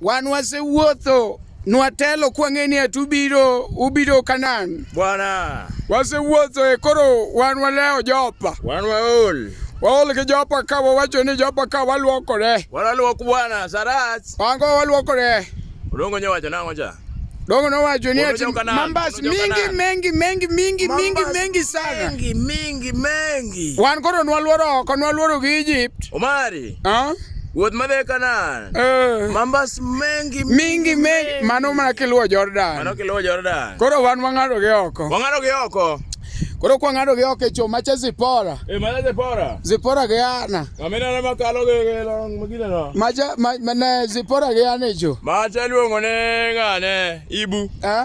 Wan wasewuotho nwatelo kwang'e ni ati ubiro ubiro Kanan. Bwana. Wasewuotho e koro wan walewo Jopa. Wan waol. Waol gi Jopa ka wawacho ni Jopa ka walwokore. Walwok bwana Sarach. Wango walwokore. Odongo nyowacho nang'o cha? Dongo nowacho ni ati mambas mingi mengi mengi mingi mingi mengi sana. Mingi mingi mengi. Wan koro nwaluoro oko nwaluoro gi Egypt. Omari. Ah? Wuoth madhi e Kanaan. Eh. Mambas mengi mingi mengi mano mana kiluwo Jordan. Mano kiluwo Jordan. Koro wan wang'ado gi oko. Wang'ado gi oko. Koro kwa ng'ado gi oko e choo macha Zipora. E macha Zipora. Zipora gi ana. Amina na makalo gi gi long magina no. Macha ma ne Zipora gi ana e choo. Macha luongo ne ng'ane Ibu. Eh?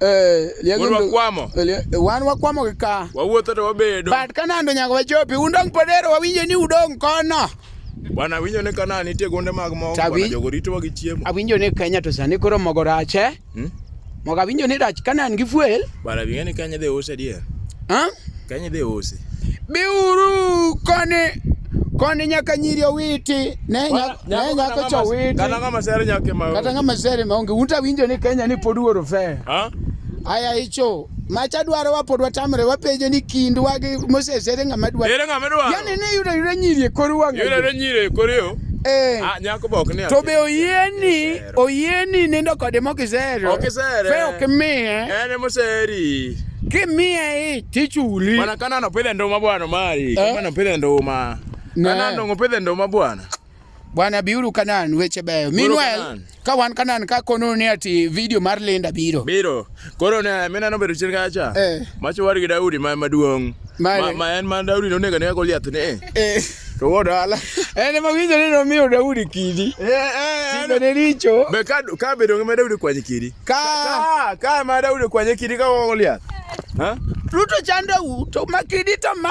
Eh, liego Wuod ndu- wakwamo. eh, lie- eh, wan wakwamo gi ka Wawuotho to wabedo. but kanando nyaka wachopi undong' podero wawinjo ni udong' kono Bwana winjo ni kana nitie gonde mag mogo. Tabi. Bwana jogo ritowa gi chiemo. awinjo ni kenya to sani koro mogo rach eh? Hmm? mogo awinjo ni rach kanan gi fuel Bwana bing'e ni Kenya dhi use dier. huh? Kenya dhi use. biuru koni koni nyaka nyiri owiti ne nyako cho witi kata ng'ama sere nyake ma kata ng'ama sere ma onge unta winjo ni Kenya ni pod wuoro fe aya icho macha dwaro wa pod watamre wapenjo ni kindwa gi Moses ere ng'ama dwaro ere ng'ama dwaro yani ne yudo yudo nyiri e kor wang'e yudo nyiri e kor yo eh ah, nyako bok ni to be oyieni Oyieni nindo kode mok isero. Ok isere. Fe ok imiye. En ema oseri. Kimiye ich tichuli. Bwana Kanaan opidhe nduma bwana mari. Eh? Kanaan opidhe nduma. Kanaan dongo opidhe nduma bwana. Bwana biuru Kanaan weche beyo. Meanwhile ka wan Kanaan ka kono ni ati video mar Linda biro. Biro. Koro ne mina nobedo chien kacha. Eh. Macho war gi Daudi ma maduong'. Ma, ma en ma Daudi nonego ne Goliath ne. Eh. eh. To wuod ala. En ma winjo ni nomiyo Daudi kidi. Eh eh. Timbe ne richo. Be ka ka bedo ngima Daudi kwanye kidi. Ka ka ma Daudi kwanye kidi ka Goliath. Ha? Ruto chandau to makidi to ma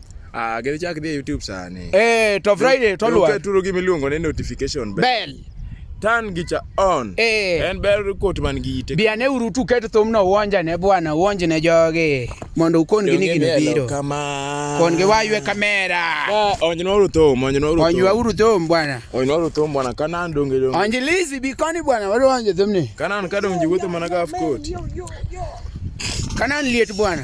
Ah, gidhi chak dhi e YouTube sani. Eh, to Friday to luwa. Keturu gi miluongo ni notification bell. Bell. Turn gi cha on. Eh. En bell report man gi ite. Bi ane uru tu ket thum no uonja ne bwana, uonje ne joge. Mondo ukon gi ni gino biro. Kama. Kon gi waywe kamera. Ah, onje no ruto, onje no ruto. Onje wa uru thum bwana. Onje no ruto bwana kana ndonge donge. Onje lizi bi koni bwana, wadu onje thum ni. Kana an kadonje wuotho mana ga afkoti. Kana liet bwana.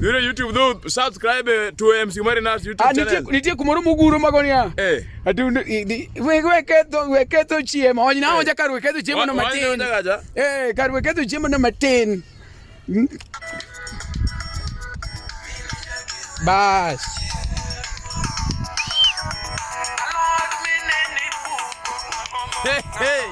Yule YouTube do subscribe eh, to MC Marinas YouTube ah, channel. Nitie nitie kumoro muguro magonia. Eh. Ati we we keto we keto chiemo. Onyi na eh. onja kar we keto chiemo no matin. Eh, kar we keto chiemo no matin. Hmm? Bas. Hey, hey.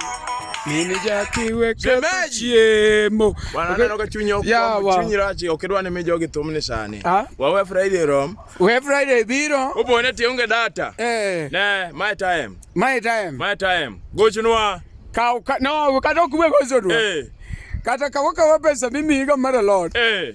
Mimi jakiwe kata chiemo. Wananeno ka chunya kwa chunyi rachi okidwa ni mijo gi thumni sani. Ah? Wawe Friday rom. We Friday biro. Upo ne tionge data. Eh. Ne, my time. My time. My time. Gochnwa. Ka no, kata okwe gochnwa. Eh. Kata kawaka wapesa mimi higa mara lot. Eh.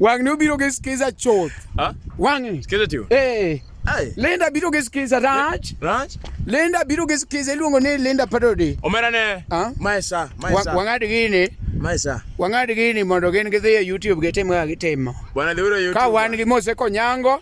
Wang' ni obiro gi skiza chuth. Ha? Wang'. Skiza tiyo. Eh. Hey. Linda biro gi skiza rach. Rach. Linda biro gi skiza iluongo ni Linda Padodi. Omera ne. Ha? Maisa, maisa. Wang'ad gini. Maisa. Wang'ad gini mondo gin gidhi e YouTube gitim ga gitimo. Bwana dhiwiro YouTube. Ka wan gi Mose Konyango.